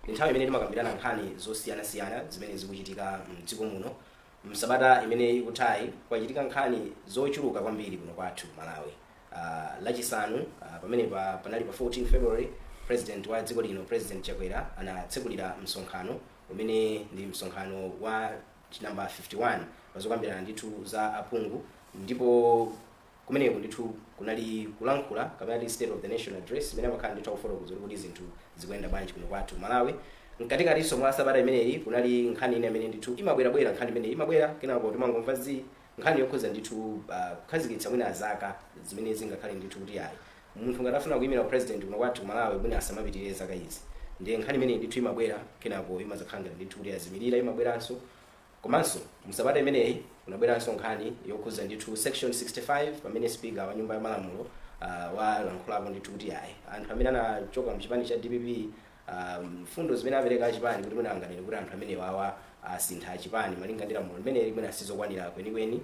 Nthawi imene timakambirana nkhani zosiyanasiyana zimene zikuchitika m'dziko muno. M'sabata imene ikuthayi kwachitika nkhani zochuluka kwambiri kuno kwathu Malawi. Lachisanu pamenepa panali pa 14 February President wa dziko lino President Chakwera anatsekulira msonkhano umene ndi msonkhano wa number 51 pazokambirana ndithu za aphungu ndipo. Kumeneko ndithu kunali kulankhula kapena titi state of the nation address imene amakhala ndithu akufotokoza kuti kodi zinthu zikuyenda bwanji kuno kwathu ku Malawi. Mkatikatinso mwa sabata imeneyi kunali nkhani ina imene ndithu imabwerabwera, nkhani imeneyi imabwera kenako timangomva zii, nkhani yokhudza ndithu kukhazikitsa mwina zaka zimene zingakhale ndithu kuti ayi munthu ngati afuna kuimira u president kuno kwathu ku Malawi mwina asamapitirire zaka izi. Ndiye nkhani imeneyi ndithu imabwera kenako imadzakhala ngati ndithu kuti yazimilira, imabweranso. Komanso mu sabata imeneyi kunabweranso nkhani yokhudza ndithu section 65 pamene speaker wa nyumba ya malamulo ah, walankhulapo ndithu kuti ayi anthu amene anachoka mu chipani cha dpp ah, mfundo zimene apereka achipani kuti mwina anganene kuti anthu amenewawa asintha chipani malinga ndi lamulo limeneli mwina sizokwanira kwenikweni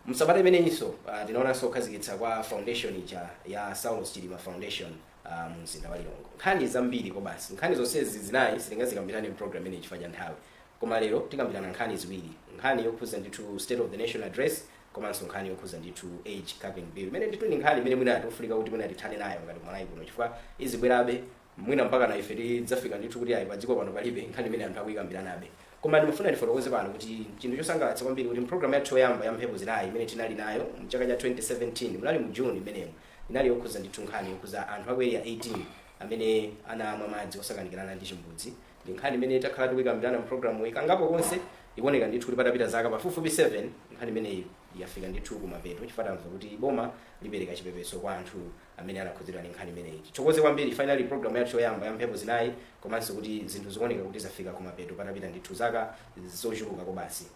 msabata imeneyinso uh, tinaonanso kukhazikitsidwa kwa foundation ija ya saulos chilima foundation uh, mu mzinda wa lilongwe nkhani zambiri kobasi nkhani zonsezi zinayi sitingazikambirane mu program imeneyi chifukwa cha nthawi Koma lero tikambirana nkhani ziwiri, nkhani yokhuza ndithu State of the Nation Address komanso nkhani yokhuza ndithu Age Capping Bill, imene ndithu ndi nkhani imene mwina tikufunika kuti mwina tithane nayo ngati Malawi kuno chifukwa izibwerabe mwina mpakana ife tidzafika ndithu kuti ayi padziko pano palibe nkhani imene anthu akuyikambiranabe. Koma ndimafuna ndifotokoze pano kuti chinthu chosangalatsa kwambiri kuti pulogalamu yathu yoyamba ya mphepo zinayi imene tinali nayo mchaka cha 2017 munali mu June imenemo inali yokhuza ndithu nkhani yokhuza anthu aku area 18 amene anamwa madzi osakanikirana ndi chimbudzi ndi nkhani imene takhala tikuyikambirana mu programuyi kangapo konse ikuoneka ndithu kuti patapita zaka pafupifupi 7 nkhani imeneyi yafika ndithu kumapeto chifukwa tamva kuti boma lipereka chipepeso kwa anthu amene anakhudzidwa ndi nkhani imeneyi tithokoze kwambiri finally programu yathu yoyamba ya mphepo zinayi komanso kuti zinthu zikuoneka kuti zafika kumapeto patapita ndithu zaka zochuluka kobasi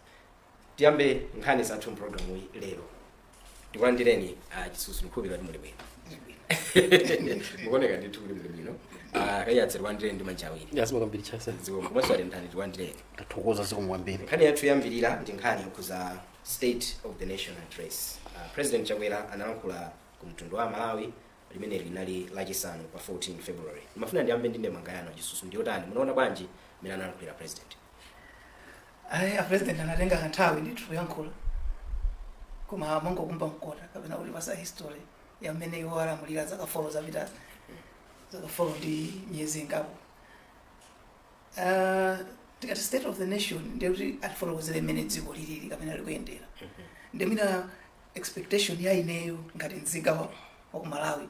tiyambe nkhani zathu mpulogalamu iyi lero tikulandireni ah, chisusu ndikhulupirira kuti muli bwino mukuoneka ndithu kuti muli bwino a kaiyatsa tikulandireni ndi manja awiri Tathokoza kwambiri chasa. zikomo komanso a mtani tikulandireni Tathokoza zikomo kwambiri. nkhani yathu yoyambirira ndi nkhani yokhuza state of the nation address uh, president chakwera analankhula ku mtundu wa amalawi limeneli linali lachisanu pa 14 february ndimafuna ndiyambe ndi ndemanga yanu chisusu ndiyotani munaona bwanji mmene analankhulira president ayi a president anatenga kanthawi ndithu kuyankhula koma amangokumba mkota kapena kutipatsa history ya mmene iwo alamulira zaka folo zapitazi zaka folo ndi miyezi ingapo Ah, tikati state of the nation ndiye kuti atifotokozere mmene dziko lilili kapena likuyendera ndiye mwina expectation ya ineyo ngati mzika wa wa ku malawi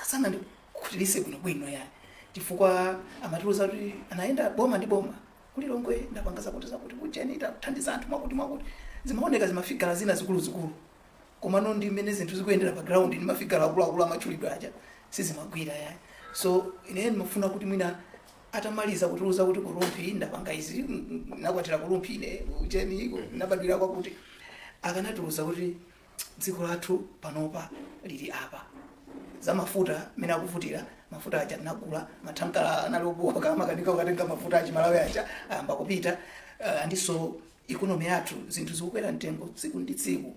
sanandikhutilitse bwinobwino yayi chifukwa amatiuza kuti anayenda boma ndi boma Ku Lilongwe ndapanga zakutizakuti, ku ujeni tathandiza anthu mwakutimwakuti. Zimaoneka zimafigala zina zikuluzikulu, komano ndi mmene zinthu zikuyendera pa ground ndi mafigala akuluakulu amatchulidwa aja, sizimagwira yayi. So ineyo ndimafuna kuti mwina atamaliza kutiuza kuti ku Rumphi ndapanga izi, mm, mm, nakwatira ku Rumphi ine, ku ujeni, ku- nabadwira kwakuti, akanatiuza kuti dziko lathu panopa lili apa za mafuta mmene akuvutira mafuta aja tinagula mathankala anali obooka amakanika kukatenga mafuta a Chimalawi aja ayamba kupita uh, and so ikonomi yathu zinthu zikukwera mtengo tsiku ndi tsiku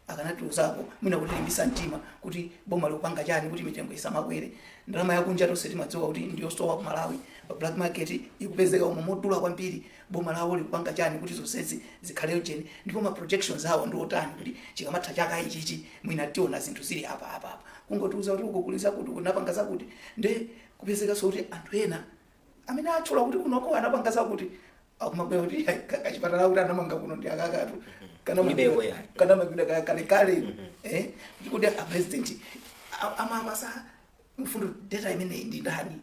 akanatiuzako mwina kutilimbitsa mtima kuti boma likupanga chani kuti mitengo isamakwere ndalama yakunja tonse timadziwa kuti ndiyosowa ku malawi pa black market ikupezeka umo yodula kwambiri boma lawo likupanga chani kuti zonsezi zikhale ujeni ndipo ma projections awo ndi otani kuti chikamatha chaka ichichi mwina tiona zinthu zili apa apa apa kungotiuza kuti uko kuli zakuti kunapanga zakuti nde kupezekanso kuti anthu ena kumene atchula kuti kunoko anapanga zakuti akumabwera kuti "Ai, ka- kachipatala akuti anamanga kuno ndi akakatu kulibeko yayi. kanamangidwa ka- kalekale eh, kuti kuti a president a- amawapatsa mfundo data imeneyi ndi ndani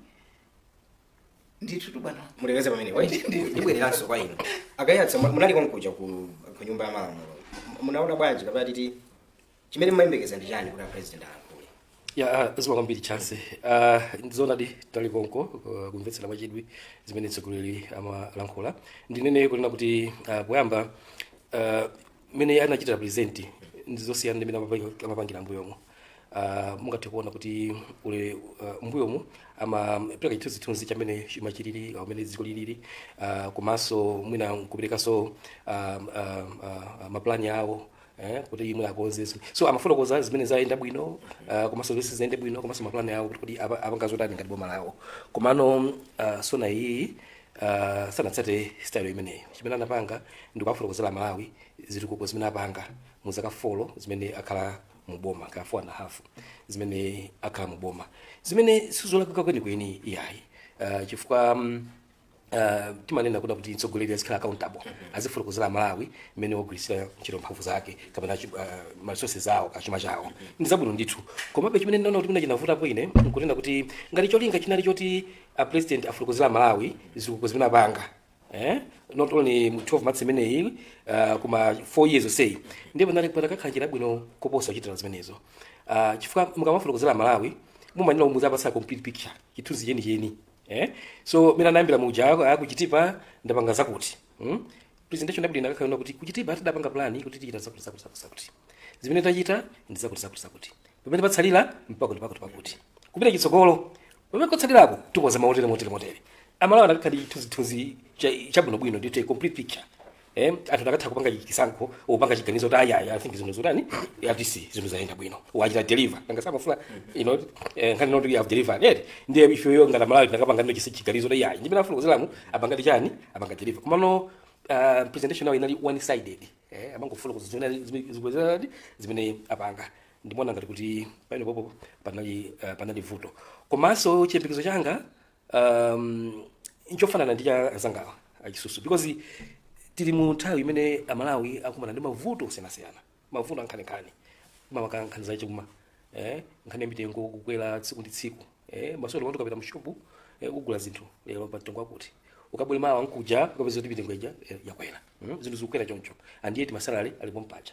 ndithutu bwana mulekeze pamenepo wait ndibwereranso kwa inu a Kaiyatsa mu- munali konkuja ku ku nyumba ya malamulo M- munaona bwanji kapena titi chimene mmayembekeza ndi chani kuti apresident alankhule ya zikomo kwambiri chance Ah, ndizonadi tinali konko uh, kumvetsera mwachidwi zimene mtsogoleri amalankhula ndinene kunena kuti ah, poyamba ah, mmene iye anachitira present ndi zosiyana ndi mmene amapangi- amapangira m'mbuyomo Ah, mungathe kuona kuti ule ah, m'mbuyomu amapereka chithunzithunzi cha mmene chuma chilili mmene dziko lilili ah, komanso mwina kuperekanso ah, ah, ah, mapulani awo eh, kuti mwina akonze zimene- so amafotokoza zimene zayenda bwino uh, komanso zomwe sizinayende bwino komanso mapulani awo kuti kodi apa- apanga zotani ngati boma lawo komano uh, SONA iyi uh, sanatsate style imeneyo chimene anapanga ndi kuwafotokozera aMalawi zitukuko zimene apanga mu zaka folo zimene akhala mu boma ka four and a half zimene akhala mu boma zimene sizolakwika kwenikweni iyayi uh, chifukwa um, Uh, timanena kunena kuti mtsogoleri azikhala accountable azifotokozera aMalawi mmene wagwiritsira ntchito mphamvu zake kapena chi- uh, ma resources awo kaya chuma chawo ndi zabwino ndithu komabe chimene ndinaona kuti mwina chinavutapo ine nkunena kuti ngati cholinga chinali choti a president afotokozera malawi zitukuko zimene apanga eh? not only mu 12 months imeneyi uh, koma 4 years oseyi ndipo nati kupata kakhala njira bwino koposa kuchitira zimenezo uh, chifukwa mukamafotokozera malawi mumanena muziwapatsa complete picture chithunzi chenicheni eh? so mwina anayambira muja aku- akuchitipa ndapanga zakuti hmm? presentation yabwino inakakhala kuti kuchitipa tidapanga plani kuti tichita zakuti zakuti zakuti zakuti zimene tachita ndi zakuti zakuti zakuti pamene patsalira mpaka ndi pakuti pakuti kupita chitsogolo Pamene kotsalirako tikonza motere motere motere. Amalawi anakakhala ndi chithunzithunzi cha- chabwinobwino ndi a complete picture. Eh, anthu anakatha kupanga chisankho kupanga chiganizo kuti ayaya I think zinthu zotani ati si zinthu zayenda bwino wachita deliver nanga samafuna you know eh, nkhani ndiyoti you have delivered yet ndiye ifeyo ngati Malawi tinakapanga ndo chisi chiganizo kuti yayi ndimene afotokozeramu apanga ndi chani apanga deliver komano uh, presentation nayo inali one sided eh, amangofotokoza zimene zimene apanga ndimaona ngati kuti pamenepopo panali uh, panali vuto komanso chiyembekezo changa um, nchofanana ndi cha anzangawa achisusu because tili mu nthawi imene amalawi akumana ndi mavuto osiyanasiyana mavuto ankhaninkhani makamaka nkhani zachuma eh, nkhani ya mitengo kukwera tsiku ndi tsiku eh, maso lero ukapita mushopu eh, kugula zinthu lero pa mtengo wakuti ukabwera mawa mkuja ukapeza kuti mitengo ija eh, yakwera mm? zinthu zikukwera choncho and yet masalary ali pompaja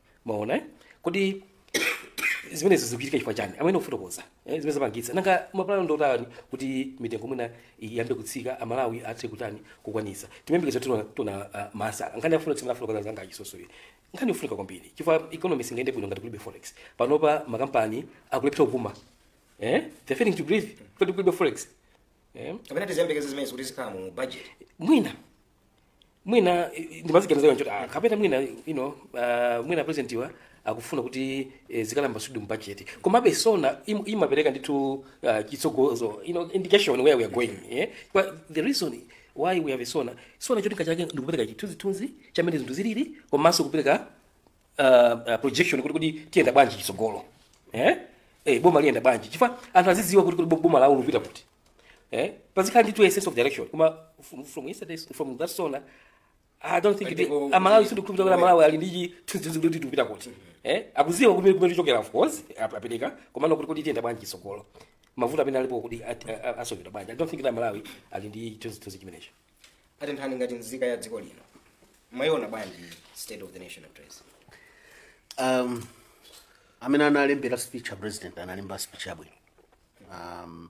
mwaona eh? kodi zimenezo zikuchitika chifukwa chani amene kufotokoza eh, zimene zapangitsa nanga mapulano ndotani kuti mitengo mwina iyambe kutsika amalawi athe kutani kukwanisa timayembekeza tona, tona uh, masa nkhani ya forex imene afotokoza anzanga achisusuyi nkhani yofunika kwambiri chifukwa economy singayende bwino ngati kulibe forex panopa makampani akulephera kupuma eh? they're failing to breathe kuti kulibe forex eh? kapena tiziyembekeze zimenezi kuti zikhala mu budget mwina mwina eh, ndimaganiza kanchoti ah, kapena mwina you know, uh, mwina presidentiwa akufuna kuti eh, zikalowa zonsezi mu budget komabe sona im, imapereka ndithu uh, chitsogozo you know, indication where we are going eh? But the reason why we have a sona sona cholinga chake ndikupereka chithunzithunzi chamene zinthu zilili komanso kupereka uh, uh, projection kuti kuti tiyenda bwanji chitsogolo eh? eh, boma liyenda bwanji chifukwa anthu azidziwa kodi kuti boma lawo likupita kuti eh pazikhala ndithu a sense of direction koma from, from yesterday from that sona i don't think Ndipo- kuti amalawi sindikukhulupirira kuti amalawi ali ndi chithunzithunzi kuti tikupita kuti eh akudziwa kumene kumene tichokera of course ap- apereka komano kuti kuti tiyenda bwanji chitsogolo mavuto amene alipo kuti at- a- a- asovedwa bwanji i don't think kuti amalawi ali ndi chithunzithunzi chimenecho a mtambo ngati nzika ya dziko lino mwayiona bwanji state of the nation address um, amene analembera speech a president analemba speech yabwino um,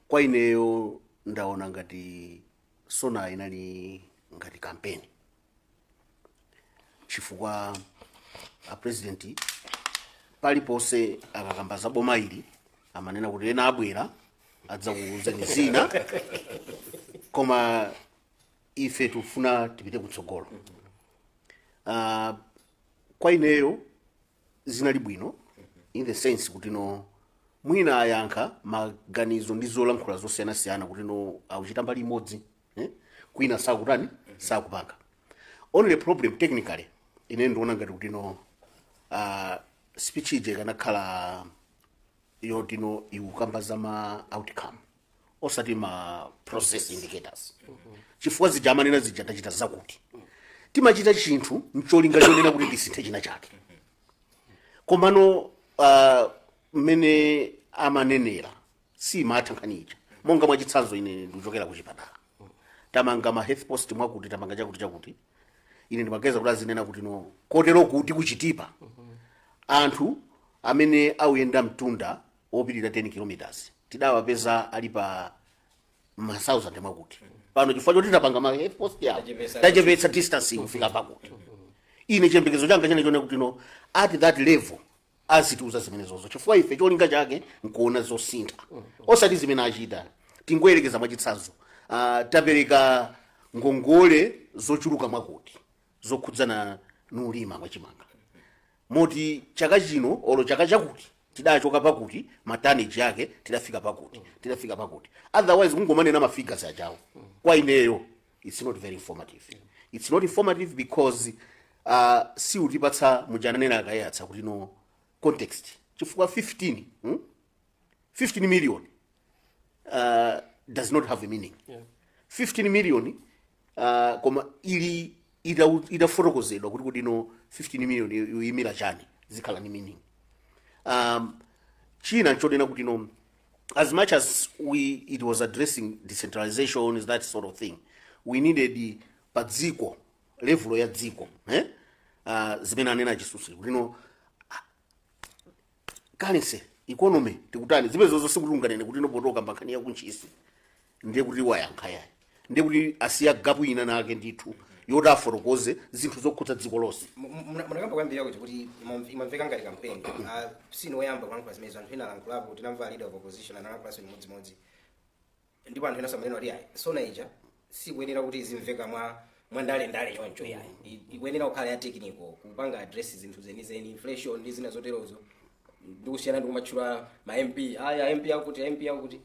kwa ineyo ndaona ngati sona inali ngati kampeni chifukwa apresidenti paliponse akakamba za boma ili amanena kuti ena abwera adzakuuzeni zina koma ife tikufuna tipite kutsogolo uh, kwa ineyo zinali bwino in the sense kuti no mwina ayankha maganizo ndi zolankhula zosiyanasiyana kuti no akuchita mbali imodzi eh? kwina sakutani sakupanga only problem technically ine ndiona ngati kuti no uh, speech ije ikanakhala yoti no ikukamba za ma outcome osati ma process indicators chifukwa zija amanena zija tachita zakuti timachita chinthu mcholinga chonena kuti tisinthe china chake komano ah, mmene amanenera siimatha nkhani ija monga mwachitsanzo ine ndikuchokera ku chipatala tamanga ma health post mwakuti tamanga chakuti chakuti ine ndimaganiza kuti azinena kuti no kotero kuti kuchitipa anthu amene auyenda mtunda opitirira 10 kilometers tidawapeza ali pa 1000 mwakuti pano chifukwa choti tapanga ma health post yawo Tachepetsa- tachepetsa distance kufika pakuti ine chiyembekezo changa chinali choti no at that level azitiuza zimenezozo chifukwa ife cholinga chake nkuona zosintha osati zimene achita tingoyerekeza mwachitsanzo uh, tapereka ngongole zochuluka mwakuti zokhudzana ndi ulimi wachimanga moti chaka chino olo chaka chakuti tidachoka pakuti ma tonnage yake tidafika pakuti tidafika pakuti otherwise kungomanena mafigures achawo kwa ineyo it's not very informative it's not informative because uh, siukutipatsa muja ananenera Kaiyatsa kuti no context chifukwa 15 hmm? 15 million uh, does not have a meaning Yeah. 15 million uh, koma ili ita- itafotokozedwa kuti kuti no 15 million yo- yoyimira chani zikhala ndi meaning um, china nchonena kuti no as much as we it was addressing decentralization issues that sort of thing we needed pa dziko level ya dziko eh? uh, zimene anena Chisusu kuti no currency economy tikutani zimenezozo sikuti unganene kuti no potokamba nkhani yakuntchisi ndiye kuti wayankha yayi ndiye kuti asiya gapu ina nake ndithu yoti afotokoze zinthu zokhudza dziko lonse munakamba koyambirira kuti kuti imam- imamveka ngati kampeni Ah, sinu oyamba kulankhula zimenezo anthu ena alankhulapo tinamva leader of opposition analankhulaso chimodzimodzi ndipo anthu enanso amanena kuti ayi sona ija siikuyenera kuti izimveka mwa mwa ndale ndale choncho yayi I- ikuyenera kukhala ya technical kupanga address zinthu zenizeni inflation ndi zina zoterozo ndikusiyana ndikumatchula ma mp a mp akuti a mp akuti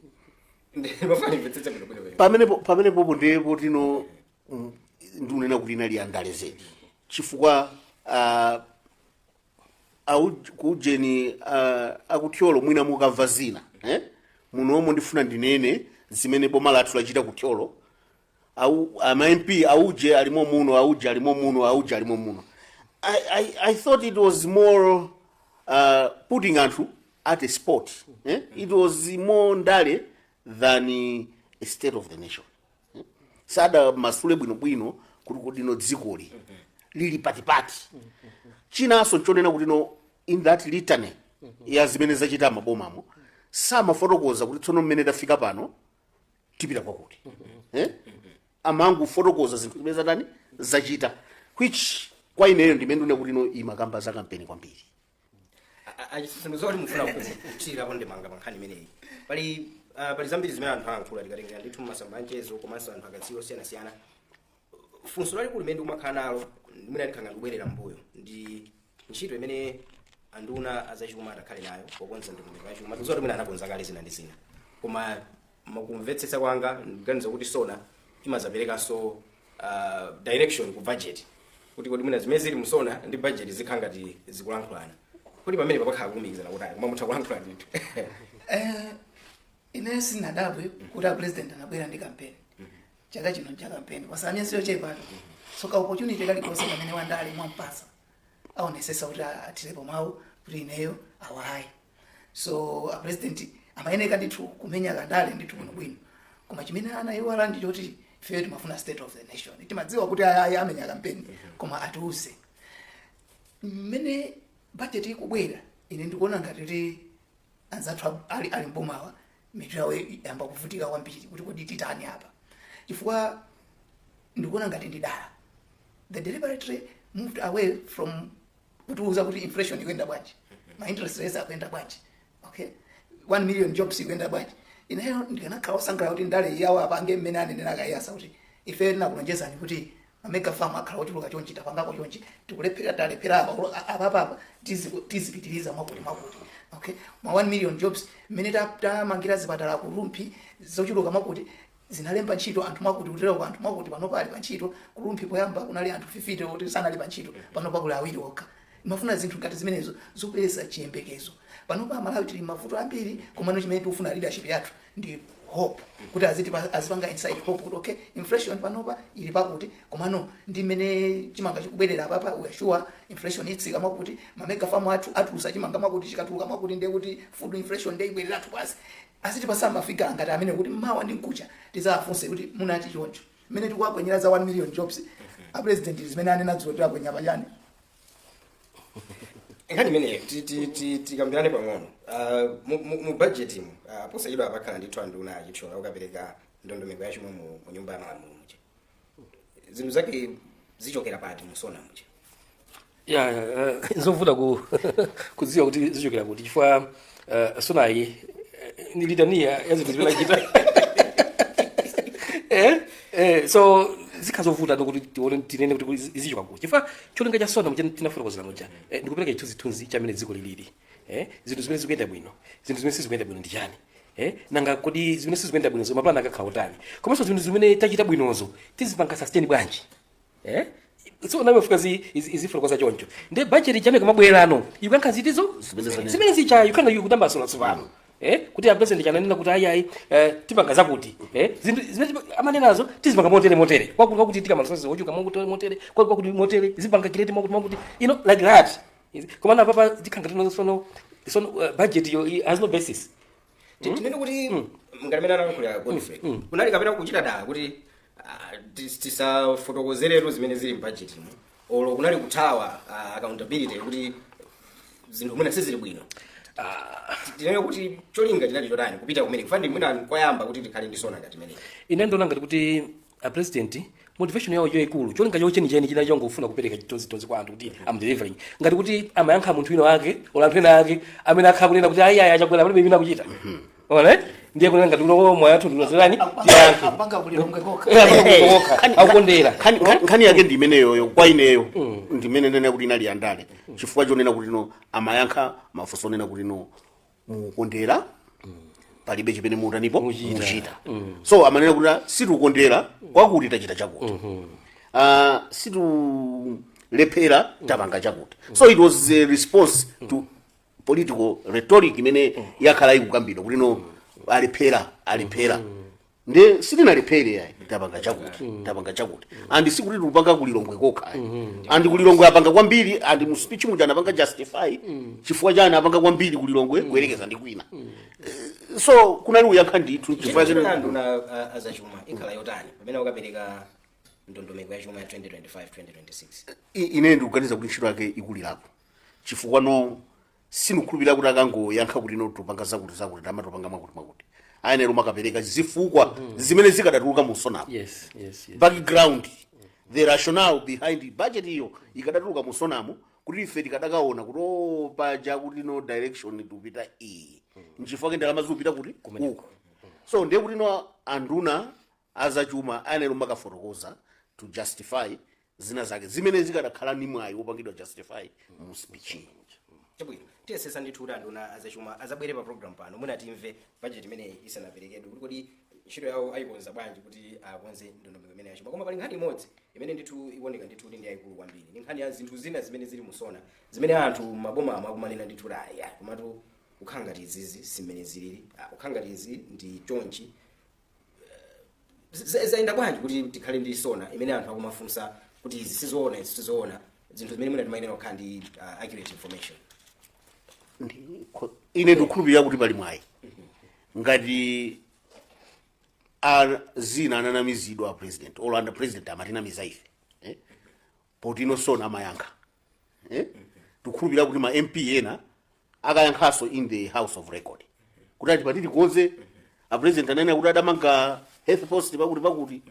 ndimafuna ndimvetsetse bwino bwino bwino pamenepo pamenepopo ndi poti no mm, ndikunena kuti inali yandale zedi chifukwa ah, Au- kuujeni uh, akuthyolo mwina mukamva zina eh? munomo ndifuna ndinene zimene boma lathu lachita kuthyolo au ama mp auje alimo muno auje alimo muno auje alimo muno I, I, i thought it was more uh, putting anthu at a spot eh? it was more ndale than a state of the nation sadamasule bwinobwino kuti no dzikoli lili patipati chinanso nchonena kuti no in that litany ya zimene zachita mmabomamo samafotokoza kuti tsono mmene tafika pano tipita kwakuti eh? amangofotokoza zinthu zimene zatani zachita which kwa ineyo ndimene ndikuti no imakamba za kampeni kwambiri achisi sindikudziwa kuti mufuna kuthirirapo ndemanga pa nkhani imeneyi pali ah, pali zambiri zimene anthu ayankhula tikatengera ndithu mmasamba anchezo komanso anthu akadziwa osiyanasiyana funso lalikulu limene ndikumakhala nalo limene likhala ndikubwerera mbuyo ndi ntchito imene anduna azachuma atakhale nayo pokonza ndondomeko yachuma tikudziwa kuti mwina anakonza kale zina ndi zina koma Mukumvetsetsa kwanga ndikuganiza kuti SONA imazaperekanso uh, direction ku budget kuti kodi mwina zimene zili mu SONA ndi budget zikhala ngati zikulankhulana kodi pamenepa pakhala kulumikizana kuti koma mutha kulankhula ndithu Eh, ine sinadabwe kuti apresident anabwera ndi kampeni chaka chino cha kampeni paja ndi siyochepatu soka opportunity kalikonse pamene wandale mwampasa aonesesa kuti athirepo mawu kuti ineyo awayi so a president amayeneka ndithu kumenya kandale ndithu bwinobwino koma chimene anaiwala ndi choti ifeyo timafuna state of the nation timadziwa kuti ayayi amenya kampeni koma atiuze mmene budget ikubwera ine ndikuona ngati kuti anzathu ab- ali ali mbomawa mitu yawo yayamba kuvutika kwambiri kuti kodi titani apa chifukwa ndikuona ngati ndi dala they deliberately moved away from kutiuza kuti inflation ikuyenda bwanji ma interest rates akuyenda bwanji okay 1 million jobs ikuyenda bwanji ineyo ndikanakhala osangalala kuti ndale yawo apange mmene anenera akayasa kuti ife tinakulonjezani kuti mamega farm akhala ochuluka chonchi tapangako chonchi tikulephera talephera apa ulo- a- apapapa tizi- tizipitiriza mwakuti mwakuti okay ma 1 million jobs mmene ta- tamangira zipatala ku rumphi zochuluka mwakuti zinalemba ntchito anthu mwakuti kutereko anthu mwakuti panopa ali pantchito ku rumphi poyamba kunali anthu 50 oti sanali pantchito panopa kuli awiri okha timafuna zinthu ngati zimenezo zopereka chiyembekezo panopa amalawi tili mavuto ambiri komano chimene tikufuna leadership yathu ndi hope kuti azitipa- azipanga inspire hope kuti okay inflation panopa ili pakuti komano ndi mmene chimanga chikubwerera apapa we are sure inflation itsika mwakuti mamega famu athu atulusa chimanga mwakuti chikatuluka mwakuti ndiye kuti food inflation ndiye ibwereratu pansi Azitipatsa mafigazi ngati amenewo kuti mawa ndi mkuja tidzawafunse kuti munati choncho. Mmene tikuwakwenyera za 1 million jobs, a president zimene ananena dzulo tiwakwenya pachani. nkhani imeneyo ti- ti- ti- tikambirane pang'ono Ah, mu- mu mu budget mu ah, posachedwa pakhala ndithu anduna achithyola ukapereka ndondomeko yachuma mu mu nyumba ya malamulo muja zinthu zake zichokera pati musona muja ya ya, eh, nzovuta ku kudziwa kuti zichokera kuti chifukwa eh, sonayi eh, ndi litaniya ya zinthu zimene achita eh, eh, so zikhala zovuta ndithu kuti tione tinene kuti kuti zichoka kuti chifukwa cholinga cha sona monga tinafotokozera muja eh, ndikupereka chithunzithunzi cha mmene dziko lilili eh? zinthu zimene zikuyenda bwino zinthu zimene sizikuyenda bwino ndi chani eh? nanga kodi zimene sizikuyenda bwinozo mapulani akakhala otani komanso zinthu zimene tachita bwinozo tizipanga sustain bwanji eh? so sona imafika zi izi- izifotokoza choncho ndiye budget ija ikamabwera no ikuyankha zinthuzo zimene zicha yukana ikutambasula tsopano eh kuti apresident aja ananena kuti ayi ayi eh, tipanga zakuti eh zinthu zimene tipa- amanenazo tizipanga motere motere kwakuti kwakuti tikhala ndi masosi ochoka motere motere kwakuti kwakuti motere zipanga create mwakuti mwakuti you know like that Izi- komano apapa zikhala ngati no sono sono uh, budget yo i- has no basis tinene kuti ngati mmene analankhulira godfrey kunali kapena kuchita dala kuti ah, tis- tisafotokozeretu zimene zili mbajetimu olo kunali kuthawa ah, accountability kuti zinthu mwina sizili bwino tinene kuti cholinga chinali chotani kupita kumene kufani mwina koyamba kuti tikhale ndi sona ngati imeneyi ine ndikuona ngati kuti a president motivation yawo yaikulu cholinga chawo chenicheni chinali chongofuna kupereka chithunzithunzi kwa anthu kuti am delivering ngati kuti amayankha munthu wina wake olo anthu ena ake amene akhala akunena kuti ayi ayi achakwera palibe imene akuchita onani ndiye kunali ngati uno moyo wathu ndilozereni tiyankhe akupanga kulilongwe kokha Eh, akupanga kulira kokha, Khani- akukondera. khani- khani- nkhani yake ndi imeneyoyo kwa ineyo ndimanena kuti inali yandale chifukwa chonena kuti no amayankha mafunso onena kuti no mukukondera palibe chimene mukutanipo mukuchita so amanena kuti ah, sitikukondera kwakuti tachita chakuti Ah, sitikulephera tapanga chakuti so it was a response to political rhetoric imene yakhala ikukambidwa kuti no alephera alephera nde sitinalephere yayi tapanga chakuti tapanga chakuti and sikuti tikupanga kulilongwe kokha and kulilongwe apanga kwambiri and mu speech muja anapanga justify chifukwa chani apanga kwambiri kulilongwe kuyerekeza ndi kwina Eh, so kunali kuyankha ndithu chifukwa chifukwa chimene chimene anduna uh, azachuma ikhala yotani pamene akapereka ndondomeko ya chuma ya 2025 2026 I- ine ndikuganiza kuti ntchito yake ikulirapo chifukwa no sindikukhulupirira kuti akangoyankha kuti no tupanga zakuti zakuti timatopanga mwakuti mwakuti ayenera kumakapereka zifukwa zimene zikadatuluka mu sonamo yes yes yes background the rationale behind the budget iyo ikadatuluka mu sonamo kuti ife tikadakaona kuti o paja kuti no direction tikupita iyi nchifukwa ke ndalama zikupita kuti uku so ndiye kuti no anduna a zachuma ayenera kumakafotokoza to justify zina zake zimene zikadakhala ndi mwayi wopangidwa justify mu speech chabwino tiyesesa ndithu kuti anduna azachuma azabwere pa program pano mwina timve bajeti imeneyi isanaperekedwe kuti kodi ntchito yawo ayikonza bwanji kuti akonze ndondomeko imene yachuma koma pali nkhani imodzi imene ndithu ikuoneka ndithu kuti ndi yayikulu kwambiri ndi nkhani ya zinthu zina zimene zili mu sona zimene anthu m'maboma mu akumanena ndithu kuti aya komatu kukhala ngati izizi simmene zilili Ah, kukhala ngati izi ndi chonchi Z- zayenda bwanji kuti tikhale ndi sona imene anthu akumafunsa kuti izi sizoona izi sizoona zinthu zimene mwina timayenera kukhala ndi uh, accurate information Ndikho- ine ndikukhulupirira kuti pali mwayi ngati a- zina ananamizidwa apresident olo apresident amatinamiza ife eh? poti no sona amayankha eh? tikukhulupirira kuti ma mp ena akayankhanso in the house of record kuti ati atikonze apresident ananena kuti adamanga health post pakuti pakuti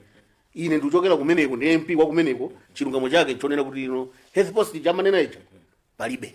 ine ndikuchokera kumeneko ndi mp wa kumeneko chilungamo chake chonena kuti no health post chamanenacho palibe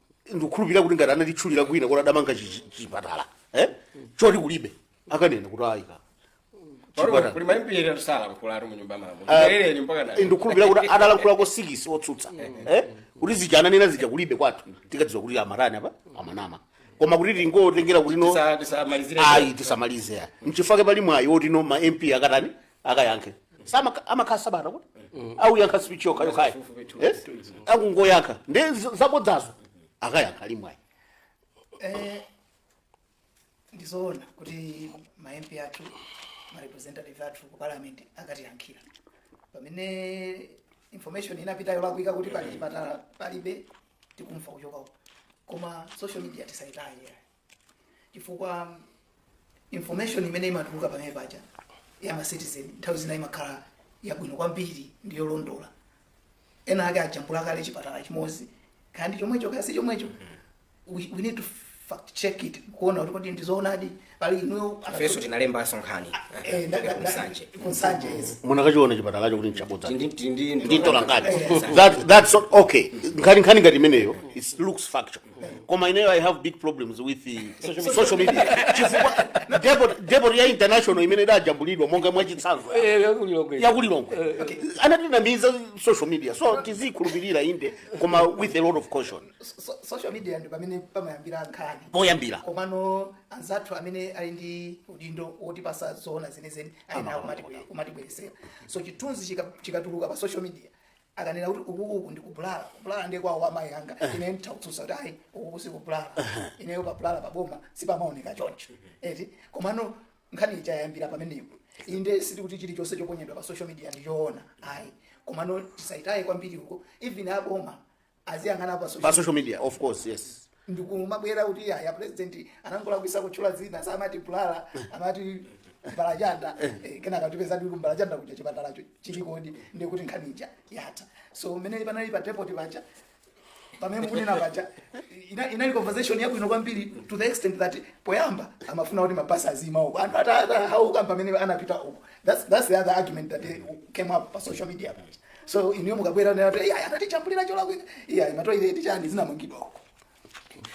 ndikukhulupirira kuti ngati anatitchulira kwina kuti adamanga chi- chi- chipatala eh? choti kulibe akanena kuti ayika Pano kuli ambiri atusala mkulatu mu nyumba malamulo. Mperereni mpaka na. ndikukhulupirira kuti akalankhulako sikisi otsutsa eh? kuti zija ananena zija kulibe kwathu tikadziwa kuti amatani apa amanama koma kuti tingotengera kuti no Tisa tisa malizire. ayi tisamalize ya nchifukwa chake pali mwayi woti no ma mp akatani akayankhe Samaka- amakhala sabata kuti akuyankha speech yokha yokhayo Eh? akungoyankha ndi z- zabodzazo akayankha uli mwayi Eh, ndizoona kuti ma mp athu ma representative athu ku parliament akatiyankhira pamene information inapita yolakwika kuti pali chipatala palibe tikumva kuchoka uko koma social media tisayitaye chifukwa information imene imatuluka pamene paja ya ma citizen nthawi zina imakhala yabwino kwambiri ndi yolondola ena ake ajambula kale chipatala chimodzi kaya ndi chomwecho kaya si chomwecho we, we need to fact check it kuona kuti kodi ndizoonadi pali inuyo ifenso tinalembanso nkhani Eh, nda- nda- kunsanje nda- kunsanje yes. munakachiona chipatalacho kuti nchabodza Ndi- ndi- ndi- nditola ngati that, that's not okay nkhani nkhani ngati imeneyo it looks factual koma ineyo i have big problems with uh, social media chifukwa depot- depot ya international imene idajambulidwa monga mwachitsanzo Eh, yakulilongwe. yakulilongwe anatinamiza social media so tizikhulupirira inde koma with a lot of caution So- so- social media ndi pamene pamayambira nkhani poyambira komano anzathu amene ali ndi udindo wotipatsa zoona zenizeni ayenera kumatibwe- kumatibweresera so chithunzi chika- chikatuluka pa social media akanena kuti uku uku ndi kubulala kubulala ndiye kwawo amayi anga ine nditha kutsutsa kuti ayi ukuku sikubulala ineyo pabulala paboma sipamaoneka choncho eti komano nkhani ija yayambira pamenepo inde sitikuti chilichonse choponyedwa pa social media ndichoona ayi komano tisayitaye kwambiri uko even aboma aziyang'ana pa pa social media of course yes ndikumabwera kuti ayi a president anangolakwisa kutchula dzina samati bulala amati mbalachanda Eh, kenaka kutipezadi ku mbalachanda kuja chipatalacho chilikodi ndikuti nkhani ija yatha so mmene panali pa depot paja pamene mukunena paja ina- inali conversation yabwino kwambiri to the extent that poyamba amafuna kuti mabasi aziima uko anthu atahauka pamene anapita uko that's, that's the other argument that eh, came up pa social media paja so inuyo mukabwera nkuti ayi anatijambulira cholakwika ayi matoilet chani zinamangidwa uko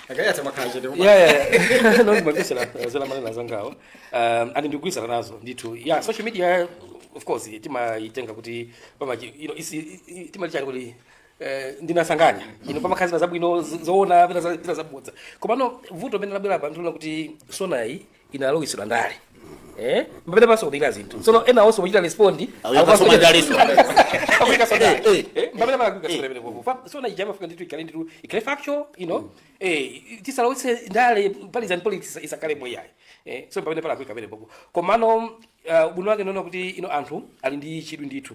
akayatha makhala chete koma- yeah, yeah, yeah. no, ndimagwisira zimene amanena anzangawo um, and ndikugwirizana nazo ndithu yeah, social media of course timayitenga kuti pamachi- you know, isi- i- i- timalichani kuti eh, ndinasanganya ino pamakhala zina zabwino z- zoona pena za- zina zabodza komano vuto pamene labwera apa ndilonena kuti sonayi inalowetsedwa ndale eh mpamene pasokonekera zinthu tsono ena onse kuchita respond Akasoma ndaleso. akasoma ndale Eh, eh mpamene palakwika sura bele kufa sona ija imafunika ndithu ikhale ndithu ikhale factual you know eh tisalowetse ndale partisan politics isakhalemo ayi eh so mpamene palakwika pamenepo komano uh, ubwino wake ndaona kuti ino anthu ali ndi chidwi ndithu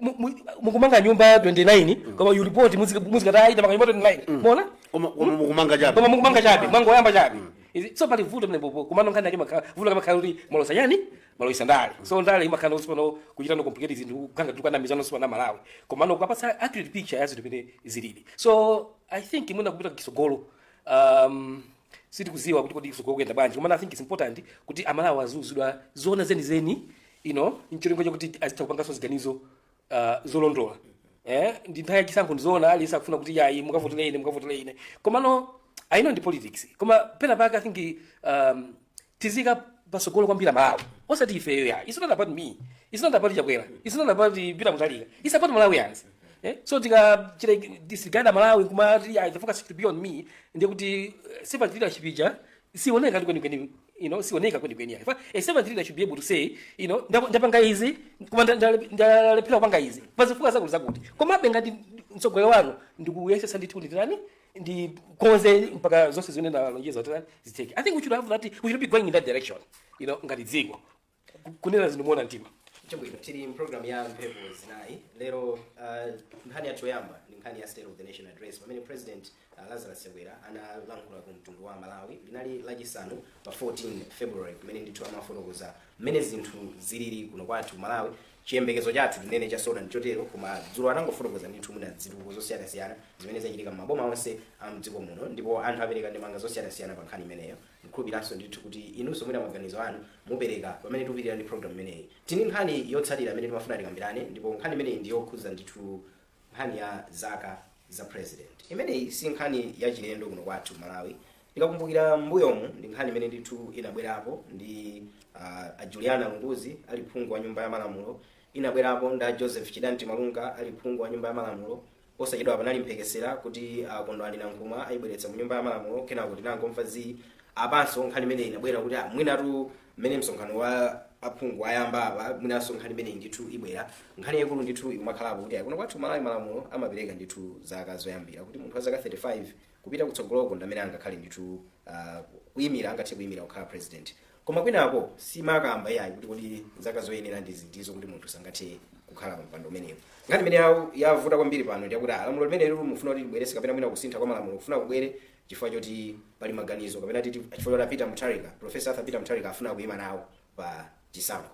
Mu- mu- mukumanga nyumba 29 koma mu report muzika- muzikati ayi tamanga nyumba 29 mwaona koma koma mukumanga chabe koma mukumanga chabe mwangoyamba chabe Izi- so pali vuto pamenepo komano nkhani yake imakhala vuto ikamakhala kuti mwalowetsa chani mwalowetsa ndale so ndale imakhala kuti pano kuchita no complicate zinthu kukanga tukana mizano sipa na malawi komano kupatsa accurate picture ya zinthu mmene zilili so i think mwina kupita kutsogolo um, sitikuziwa kuti kodi kutsogolo kuyenda bwanji komano i think it's important kuti amalawi aziuzidwa zoona zenizeni you know ncholinga chakuti azitha kupanganso ziganizo uh, zolondola eh, ndi nthawi ya chisankho ndizoona aliyense akufuna kuti yayi mukavotele ine mukavotele ine komano i know ndi politics koma pena pake i think um, tiziika patsogolo kwambiri malawi osati ifeyo ya it's not about me it's not about chakwera it's not about Peter Mutharika it's about malawians Eh? so tikachita disregard malawi kumati "Ah, the focus should be on me ndiye kuti eh, servant leadership ija sioneka tu kwenikweni you know sioneka kwenikweni yani Fa- a servant leader should be able to say you know ndap- ndapanga izi koma nda- nda- ndalephera kupanga izi pa zifukwa zakuti zakuti komabe ngati mtsogoleri wanu ndikuyesesa ndithu nditani ndikonze mpaka zonse zimene ndalonjeza zitani zitheke i think we should have that we should be going in that direction you know ngati dziko kunena zinthu moona mtima chabwino tili mpulogalamu ya mphepo zinayi lero uh, nkhani yathu yoyamba ndi nkhani ya state of the nation address pamene president uh, lazarus chakwera analankhula ku mtundu wa malawi linali lachisanu pa 14 february kumene ndithu amafotokoza mmene zinthu zilili kuno kwathu malawi chiyembekezo chathu tinene cha SONA ndichotero koma dzulo anangofotokoza ndithu mwina zitukuko zosiyanasiyana zimene zachitika m'maboma onse a mdziko muno ndipo anthu apereka ndemanga zosiyanasiyana pa nkhani imeneyo Ndikukhulupiranso ndithu kuti inunso mwina maganizo anu mupereka pamene tikupitilira ndi program imeneyi. Tili ndi nkhani yotsatira imene timafuna tikambirane ndipo nkhani imeneyi ndi yokhudza ndithu nkhani ya zaka za president. Imeneyi si nkhani ya chilendo kuno kwathu ku Malawi. Tikakumbukira m'mbuyomu ndi nkhani imene ndithu inabwerapo ndi uh, a Juliana Lunguzi ali phungu wa nyumba ya malamulo, inabwerapo ndi a Joseph Chidanti Malunga ali phungu wa nyumba ya malamulo, Posachedwa panali mphekesera kuti a Kondwani Nankhumwa ayibweretsa mu nyumba ya malamulo kenako tinangomva zii. Apanso nkhani imeneyi inabwera kuti ah, mwinatu mmene msonkhano wa aphungu wayamba apa mwinanso nkhani imeneyi ndithu ibwera. Nkhani yaikulu ndithu ikumakhalapo kuti ah, kuno kwathu Malawi malamulo amapereka ndithu zaka zoyambira kuti munthu wa zaka 35 kupita kutsogoloko ndi amene angakhale ndithu ah, kuyimira angathe kuyimira kukhala president. Koma kwinako silimakamba iyayi kuti kodi zaka zoyenera ndi ziti zoti kuti munthu sangathe kukhala pa mpando umenewu. Nkhani imene yawu- yavuta kwambiri pano ndi yakuti ah, lamulo limeneli akufuna kuti alibweretse kapena mwina kusintha kwa malamulo kufuna kubwere chifukwa choti pali maganizo kapena titi chifukwa choti Peter Mutharika, Professor Arthur Peter Mutharika afuna kuima nawo pa chisankho.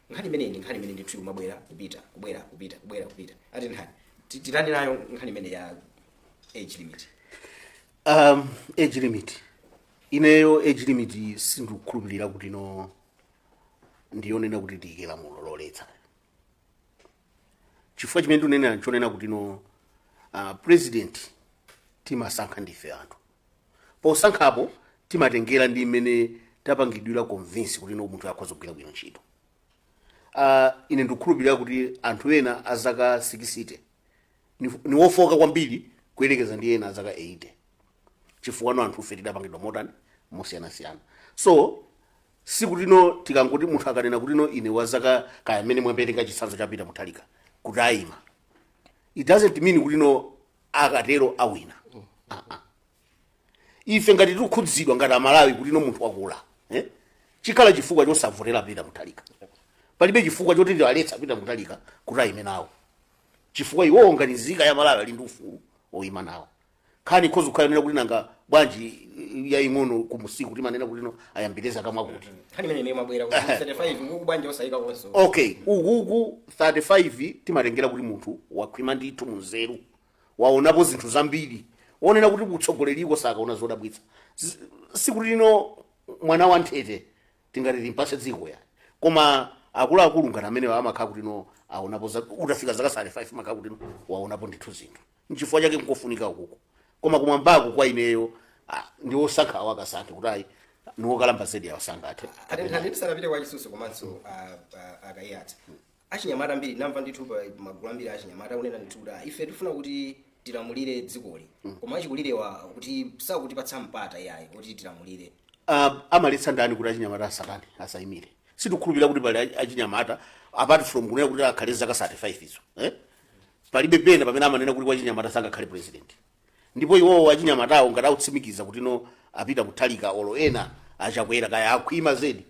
Nkhani imeneyi ndi nkhani imene ndithu imabwera kupita kubwera kupita kubwera kupita ati nkhani ti- titani nayo nkhani imene ya age limit. um, age limit ineyo age limit sindikukhulupirira kuti no ndiyonena kuti tiyike lamulo loletsa chifukwa chimene ndikunenera nchonena kuti no uh, president timasankha ndife anthu posankhapo timatengera ndi mmene tapangidwira convince kuti no munthuyu akhoza kugwira bwino ntchito uh, ine ndikukhulupirira kuti anthu ena azaka 60 ni, ndi wofooka kwambiri kuyerekeza ndi ena azaka 80 chifukwa no anthufe tidapangidwa mosiyanasiyana so sikuti no tikangoti munthu akanena kuti no ine wa zaka kaya amene mwapereka chitsanzo cha Peter Mutharika kuti ayima it doesn't mean kuti no akatero awina Ah, ah. ife ngati tikukhudzidwa ngati amalawi kuti no munthu wakula eh? chikhala chifukwa chosavotera Peter Mutharika palibe chifukwa choti tiwaletse Peter Mutharika kuti ayime nawo chifukwa iwowo ngati nzika ya malawi ali ndi ufulu oyima nawo nkhani ikhoza kukhala yonena kuti nanga bwanji yaying'ono kumusiku timanena kuti no ayambire zaka mwakuti nkhani imene ndiye imabwera kuti 35 ukuku bwanji osayika konso okay ukuku 35 timatengera kuti munthu wakhwima ndithu m'nzeru waonapo zinthu zambiri wonena kuti kutsogoleriko sakaona zodabwitsa Z- sikuti lino mwana wa nthete tingati timpase dziko yayi koma akuluakulu ngati amenewa amakhala kuti no aonapo za- utafika zaka 35 umakhala kuti no waonapo ndithu zinthu nchifukwa chake nkofunika ukuku koma kumwambako kwa ineyo ah, ndi osankha awo akasankhe kuti ayi ndi wokalamba zedi awa sangathe atenthani tisanapite kwa a Chisusu komanso ah, ah, a Kaiyatsa achinyamata ambiri namva ndithu pa magulu ambiri achinyamata akunena ndithu kuti "Ah, ife tifuna kuti tilamulire dzikoli koma achikulirewa kuti sakutipatsa mpata yayi kuti tilamulire uh, amaletsa ndani kuti achinyamata asatani asayimire sitikhulupirira kuti pali achi- achinyamata apart from kunena kuti akhale zaka 35 izo eh? palibe pena pamene amanena kuti wachinyamata sangakhale president ndipo iwowo achinyamatawo ngati akutsimikiza kuti no a Peter Mutharika olo ena a Chakwera kaya akhwima zedi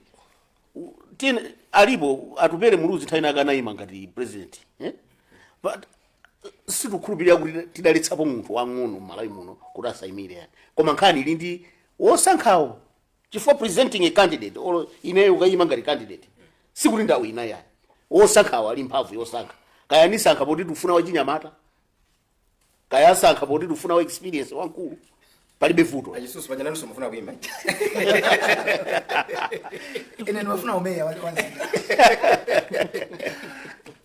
U- tiyeni alipo Atupele Muluzi nthawi ina yake anayima ngati president eh? but sitikukhulupirira kuti tidaletsapo munthu wang'ono m'malawi muno kuti asayimire yayi koma nkhani ili ndi wosankhawo chifukwa presenting a candidate olo ineyo kukayima ngati candidate sikuti ndawina yayi wosankhawo ali mphamvu yosankha kaya asankha poti tikufuna wachinyamata kaya asankha poti tikufuna wa experience wamkulu palibe vuto A Chisusu paja nanunso mufuna kuimba. ine ndimafuna umeya wale wanzinga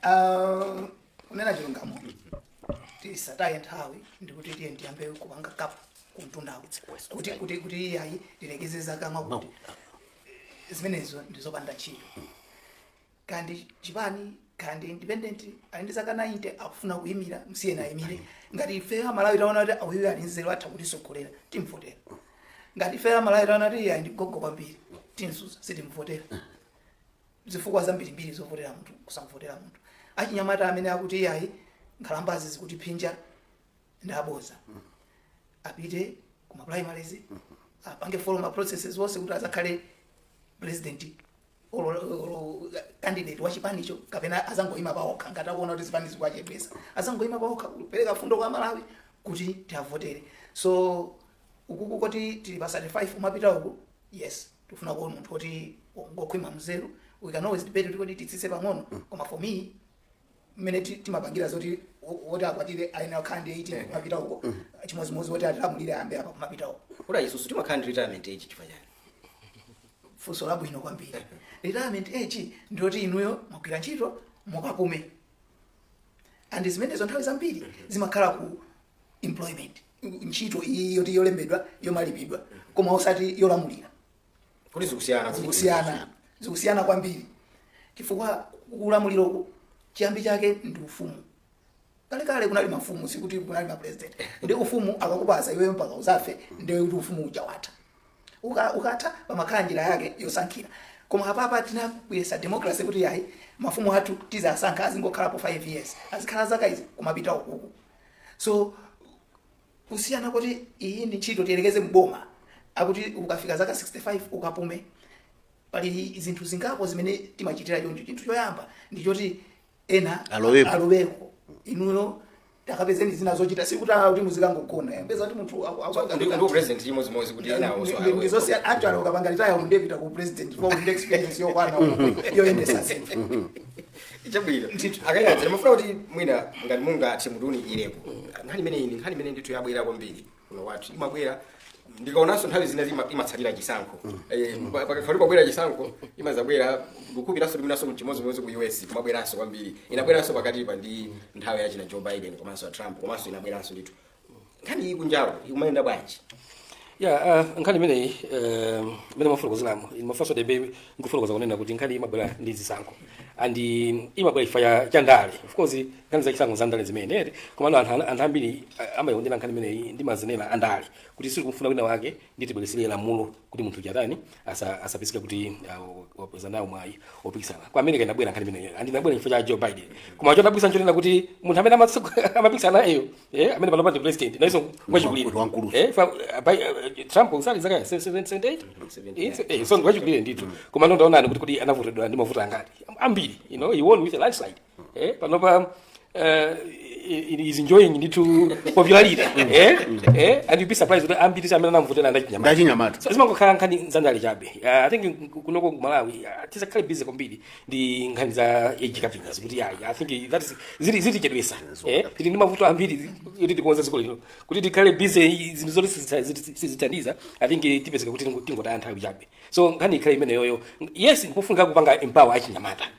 Ah, kunena chilungamo tisataye nthawi ndikuti tiyeni tiyambe kupanga cap kumtundako kuti kuti kuti iyayi tilekeze zaka mwakuti zimenezo ndizopanda ntchito kaya ndi chipani kaya ndi independent ali ndi zaka 90 akufuna kuyimira msiyeni ayimire ngati ife amalawi taona kuti uyu ali nzeru atha kutitsogolera timvotera ngati ife amalawi taona kuti iyayi ndi gogo kwambiri timtsutsa sitimvotera zifukwa zambirimbiri zovotera munthu kusamvotera munthu achinyamata amene akuti iyayi nkhalambazi zikutiphinja ndi aboza apite kuma primaries apange follow ma processes onse kuti azakhale president olo olo candidate wa chipanicho kapena azangoyima paokha ngati akuona kuti zipani zikuwachepesa azangoyima paokha kupereka fundo kwa amalawi kuti tiavotere so ukuku koti tili pa 35 kumapita uku yes tifuna kuona munthu oti ngokhwima mzeru we can always debate kuti kodi titsitse pang'ono koma for me mmene ti- timapangira zoti wo- woti akwatire ayenera kukhala ndi 18 kumapita uko chimodzimodzi woti atilamulire ayambe apa kumapita uko olo ifetu timakhala ndi retirement age chifukwa chani funso labwino kwambiri retirement age ndiyoti inuyo mwagwira ntchito mukapume and zimenezo nthawi zambiri zimakhala ku employment ntchito iyi yoti yolembedwa yomalipidwa koma osati yolamulira kuti zikusiyana zikusiyana zikusiyana kwambiri chifukwa ulamuliro chiyambi chake ndi ufumu kalekale kunali mafumu sikuti kunali mapresident ndi ufumu akakupasa iweyo mpaka uzafe ndiye kuti ufumu uja watha Uka- ukatha pamakhala njira yake yosankhira koma apapa tinabweresa democracy kuti yayi mafumu athu tizisankha azingokhalapo 5 years azikhala zaka izi kumapita ukuku so kusiyana kuti iyi ndi ntchito tiyerekeze mboma akuti ukafika zaka 65 ukapume pali zinthu zingapo zimene timachitira choncho chinthu choyamba ndi choti ena Aloweko. aloweko inuyo takapezeni zina zochita sikuti awa kuti muzikangogona mupeza kuti munthu aku- aku- Ndi- ndi aku- president chimodzimodzi kuti ena onso ndi- ndi awe. zonse anthu akapanga retire ndikupita ku president for experience yokwana yoyendesa zinthu chabwino akaiyatsa ndimafuna kuti mwina ngati mungathe mutiunikirepo nkhani imene ine nkhani imene ndithu yabwera kwambiri kuno kwathu imabwera ndikaonanso nthawi zina zima- imatsalira chisankho Eh, pa- pakakhala pakubwera chisankho imazabwera kukubweranso ndiyenso nchimodzimodzi ku us kumabweranso kwambiri inabweranso pakatipa ndi nthawi yachina joe biden komanso ya trump komanso inabweranso ndithu nkhani iyi kunjako ikumayenda bwanji ya uh, nkhani imeneyi um, imene mwafotokozeramo mafunso bwebwe ndikufotokoza kunena kuti nkhani imabwera ndi zisankho and um, imabwera chifukwa cha ndale of course nkhani za chisankho za ndale zimenezi komano anthu ana- anthu ambiri uh, amayikondera nkhani imeneyi ndi mazenera a ndale kuti sitikumfuna wina wake nde tibweretsere lamulo kuti munthu chatani asa- asapezeke kuti uh, wapeza nawo mwayi opikisana ku america inabwera nkhani imeneyo and inabwera chifukwa cha joe biden koma chodabwitsa nchonena kuti munthu amene amatsogo- amapikisana nayeyo eh, amene panopa ndi president nayenso ngwachikulire Ndi wamkulu. Eh, fa- uh, Bi- uh, trump ali zaka 78 Eh, so- eh, so ndi wachikulire ndithu koma no nde taonani kuti kuti anavotedwa ndi mavoti ngati ambiri you know he won with a landslide eh, panopa eh, is enjoying ndithu popularity eh, eh, and you'd be surprised kuti ambiri amene anamvotera ndachinyamata ndachinyamata so zimangokhala nkhani zandale chabe uh, i think kunoko ku malawi uh, tisakhale busy kwambiri ndi nkhani za age capping kuti ayi i think that is zi- zitichedwesa eh tili ndi mavuto ambiri kuti tikonze dziko lino kuti tikhale busy zinthu zoti sizita- ziti- sizithandiza i think tipezeka kuti tingo- tingotaya nthawi chabe so nkhani ikhale imeneyoyo yes ndipofunika kupanga empower achinyamata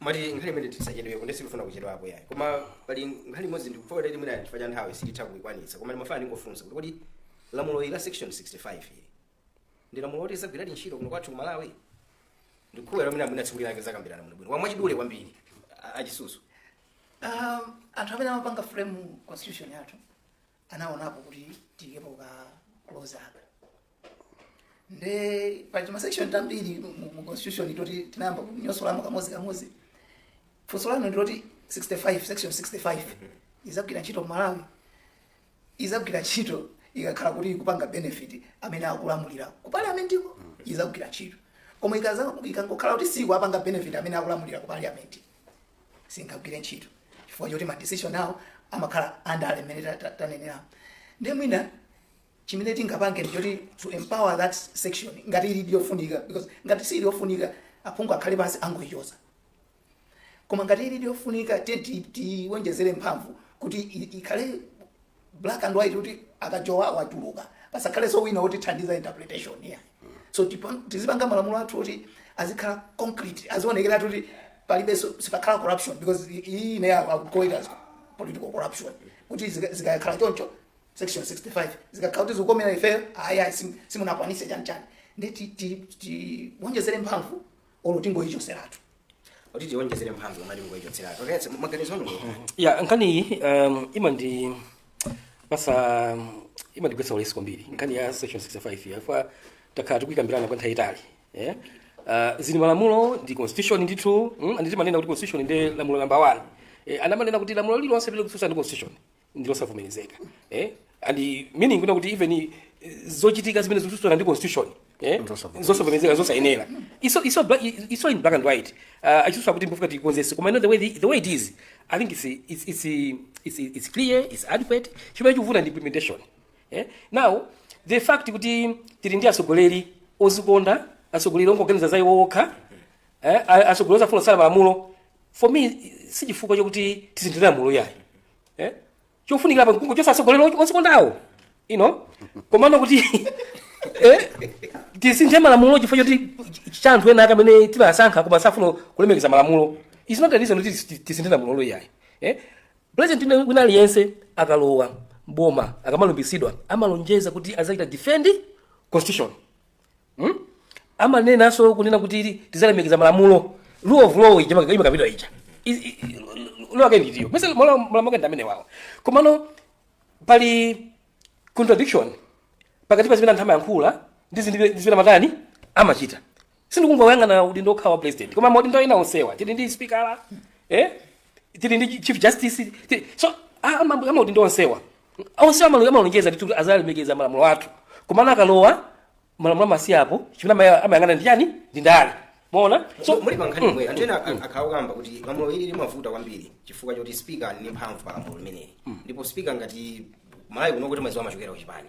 mwati nkhani imene tisachedwepo nde sikufuna kuchedwapo yayi koma pali nkhani imodzi ndikuwopa kuti mwina chifukwa cha nthawi sititha kuikwanitsa koma ndimafuna ndingofunsa kuti kodi lamulo ili la section 65 ili ndi lamulo loti lizagwiradi ntchito kuno kwathu ku malawi ndikukhulupirira mwina masiku aliwa takambirana muno bwino mwachidule kwambiri a- achisusu um, anthu amene amapanga frame constitution yathu anaonapo kuti tiikepo ka clause apa nde pali timasection tambiri mu mu constitution toti tinayamba kunyosolamo kamodzi kamodzi funso lanu ndiloti 65 section 65 izagwira ntchito kumalawi izagwira ntchito ikakhala kuti ikupanga benefit amene akulamulira ku parliament ko izagwira ntchito koma ikaza- ikangokhala kuti sikuwapanga benefit amene akulamulira ku parliament singagwire ntchito chifukwa choti madecision awo amakhala andale mmene ta- ta- tanenera nde mwina chimene tingapange ndi choti to empower that section ngati ili ndiyofunika because ngati siili yofunika aphungu akhale pansi angoyichosa koma ngati ili ndiyofunika then tiwonjezere mphamvu kuti i- ikhale black and white kuti akajowa watuluka pasakhalenso wina wotithandiza interpretation here so tipa- tizipanga malamulo athu oti azikhala concrete azionekeratu kuti palibenso sipakhala corruption because i- iyi I can call it as political corruption kuti zika- zikakhala choncho section 65 zikakhala kuti zikukomera ifeyo ayi ayi sim- simunakwanise chani chani nde ti- ti- tiwonjezere mphamvu olo tingoyichoseratu kuti tiwonjezere mphamvu olo tingoyichotseratu okay maganizo anu pa nkhani iyi um, imandi pasa imandigwetsa ulesi kwambiri nkhani ya section 65 chifukwa takhala tikuyikambirana kwa nthawi yaitali eh? uh, zili malamulo ndi constitution ndithu mm? and timanena kuti constitution ndi lamulo namba 1 eh, and amanena kuti lamulo lililonse limene likususana ndi constitution ndilosavomerezeka eh? and meaning kunena kuti even eh, zochitika zimene zikususana ndi constitution eh? Nzosavomerezeka. zosavomerezeka zosayenera it's, it's, bla- i- it's in black and white uh, achisusu akuti mpofunika tikonzese koma ine the way, the, the way it is i think it's, it's, it's, it's, it's clear it's adequate chimene chikuvuta ndi implementation eh? now the fact kuti tili ndi atsogoleri ozikonda atsogoleri ongoganiza za iwo okha eh, a- atsogoleri safuna kusala malamulo for me sichifukwa chakuti tisinthire lamulo yayi eh? chofunikira pa nkungochotsa atsogoleri ozikondawo you know komano kuti eh, tisinthe malamulo chifukwa choti cha anthu enaake amene timasankha koma safuna kulemekeza malamulo is not a reason kuti tisi- tisinthe lamulo yayi eh? president wina- wina aliyense akalowa mboma akamalumbisidwa amalonjeza kuti azachita defend constitution Hmm? amanenanso kunena kuti tizalemekeza malamulo rule of law ija maka- imakapitwa ija I- i- i- law yake ndi itiyo nimayesa malamulo ake ndi amenewawo komano pali contradiction pakati pa zimene anthu amayankhula ndi zimene ndi zimene amatani amachita sindikungoyang'ana udindo okhawa wa president koma maudindo ena onsewa tili ndi speaker eh? tili ndi chief justice tili, so a- ama- amaudindo onsewa onsewa amalu- amalonjeza kuti azalemekeza malamulo athu komano akalowa malamulo amasiya apo chimene amaya- amayang'ana ndi chani ndi ndale mwaona so muli pankhani yomweyo anthu ena ak- akhala akukamba kuti lamulo ili limavuta kwambiri chifukwa choti spika ali ndi mphamvu pa lamulo limeneli ndipo spika ngati Malawi kuno timadziwa amachokera ku chipani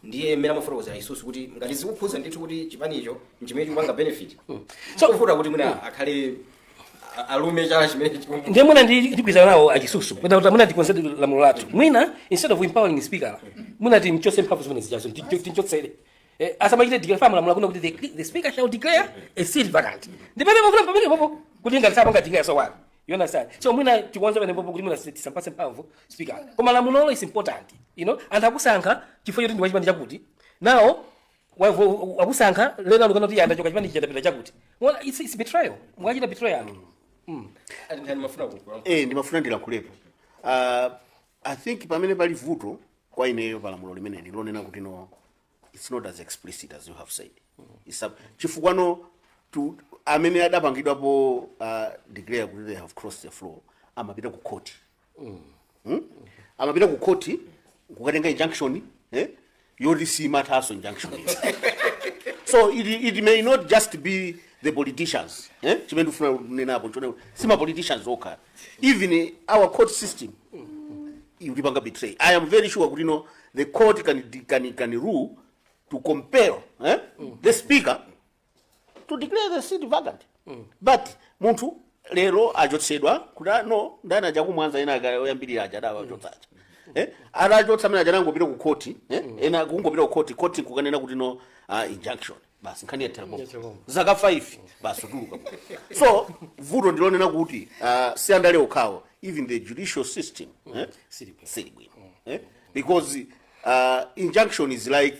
ndiye mmene amafotokozera a Chisusu kuti ngati zikukhuza ndithu kuti chipanicho nchimene chikupanga benefit So- sokuvuta kuti mwina akhale alume chala chimene chikumbu ndiye mwina ndi- ndigwirizana nawo a Chisusu mwina kuti mwina tikonzedi lamulo lathu mwina instead of empowering the speaker mwina timchotse mphamvu zimenezijazo tincho- tinchotsere Eh, asamachite declare chifukwa lamulo likunena kuti the, the speaker shall declare a seat vacant ndipamene pofuna pamenepopo kuti ngati sapanga declare so what you understand so mwina tikonze pamenepopo kuti mwina si- tisampatse mphamvu speaker koma lamulolo is important you know anthu akusankha chifukwa choti ndi wachipani chakuti nawo Waku- waku- wakusankha lero ukunena kuti ayi ndachoka chipani chija ndapita chakuti Well, it's, it's betrayal mwachita betray anthu Mm. Atindani amafuna kukula. eh ndimafuna ndilankhulepo uh, i think pamene pali vuto kwa ineyo palamulo limeneli lonena kuti no it's not as explicit as you have said It's a- chifukwa no tu- amene adapangidwapo uh, declare kuti they have crossed the floor amapita ku court Hmm? amapita ku khoti kukatenga injunction eh? yoti simathaso injunction izi. so it, it may not just be the politicians eh? chimene ndifuna kunenapo nchone si ma politicians okha even eh, our court system ikutipanga betray i am very sure kuti no the court can, can, can rule to compel eh? the speaker to declare the seat vacant but munthu lero achotsedwa kuti ah, no ndani aja ku Mwanza ena aka- oyambirira aja adawachotsa aja Eh, anawachotsa amene aja anangopita ku khoti eh, ena kungopita ku khoti khoti kukanena kuti no ah, injunction basi nkhani yathera pompo. Yathera zaka 5 basi atuluka so vuto ndilonena kuti ah, si andale okhawo even the judicial system eh, Sili bwino. sili bwino eh, because ah, injunction is like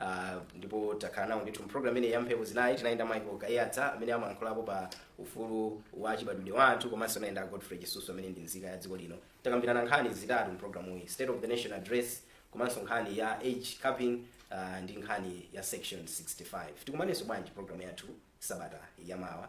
Uh, ndipo takhala nawo ndithu mpulogalamu imeneyi ya mphepo zinayi tinali ndi a Michael Kaiyatsa amene amayankhulapo pa ufulu wa chibadwidwe wa anthu komanso tinali ndi a Godfrey Chisusu amene ndi nzika ya dziko lino takambirana nkhani zitatu mpulogalamuyi state of the nation address komanso nkhani ya age capping uh, ndi nkhani ya section 65 tikumanenso bwanji pulogalamu yathu sabata yamawa